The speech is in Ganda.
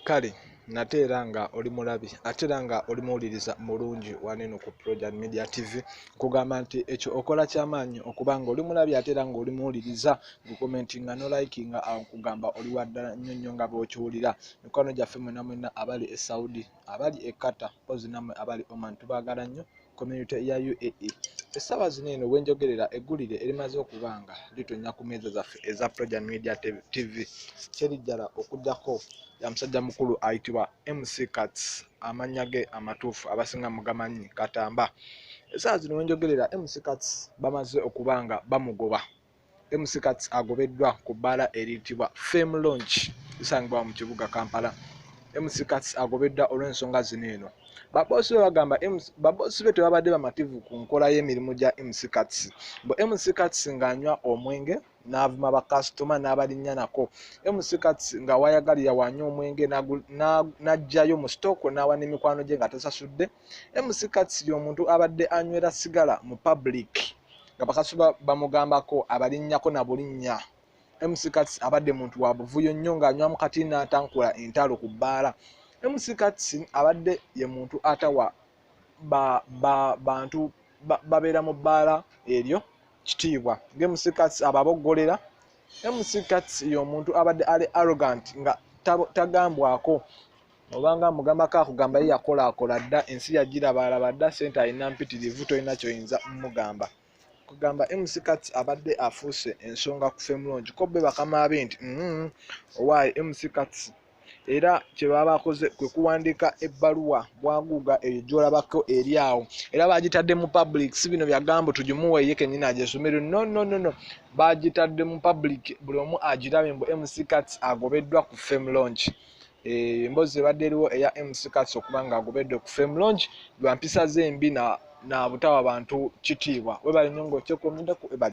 kale nate era nga oli mulabi ate era nga oli muwuliriza mulungi waneno ku projan media tv nkugamba nti ekyo okola kyamaanyi okuba nga oli mulabi ate era nga oli muwuliriza gukomenti nga nolike nga awo nkugamba oli waddala nnyo nnyo nga bwokiwulira mikwano gyaffe mwena mwena abali e saudi abali e Qatar mpozi namwe abali Oman tubagala nnyo community ya UAE essaawa zino eno wenjogerera eggulire erimaze okubanga litonya ku meeza zaffe eza Projan Media TV kyerijjala okujjako ya musajja mukulu ayitibwa MC Kats amannya ge amatuufu abasinga mugamanyi katamba essaawa zino wenjogerera MC Kats bamaze okubanga bamugoba MC Kats agobeddwa ku bbaala eriyitibwa Fame Launch esangibwa mu kibuga Kampala. MC Kats agobeddwa olw'ensonga zino eno. Baboosi be bagamba baboosi be tebabadde bamativu ku nkola y'emirimu gya MC Kats. Mbu MC Kats ng'anywa omwenge n'avuma bakasitoma n'abalinnya nako. MC Kats nga wayagalira wanywa omwenge n'aggyayo mu sitooko n'awa n'emikwano gye nga tasasudde. MC Kats y'omuntu abadde anywera sigala mu pabuliiki. nga bakasi bamugambako abalinnyako na bulinnya mc kats abadde muntu wa buvuyo nnyo ng'anywamu kati n'atankula entalo ku bbaala mc kats abadde ye muntu atawa bantu babeera mu bbaala eryo kitiibwa ngamc kats ababoggolera mc kats y'omuntu abadde ali arrogant nga tagambwako obanga mugamako akugamba ye yakolaakola dda ensi yagirabaalaba dda sente alina mpitirivu tolina kyoyinza mugamba kugamba mc kat abadde afuuse ensonga ku femulongi ko be bakama be nti mm-hmm, owaaye mc kat era kyebaba bakoze kwe kuwandiika ebbaluwa bwaguuga eyo gyolabako eri awo era bagitadde mu public si bino byagambo tugimuwe ye kenyini agyesomero no no no no bagitadde mu public buli omu agirabe mbu mc kat agobeddwa ku fem launch Eh, emboozi ebadde eriwo eya mc cats okuba nga agobedde ku fame longe lwa mpisa ze embi na butawa bantu kitiibwa webale nyo ngaokyekomedeko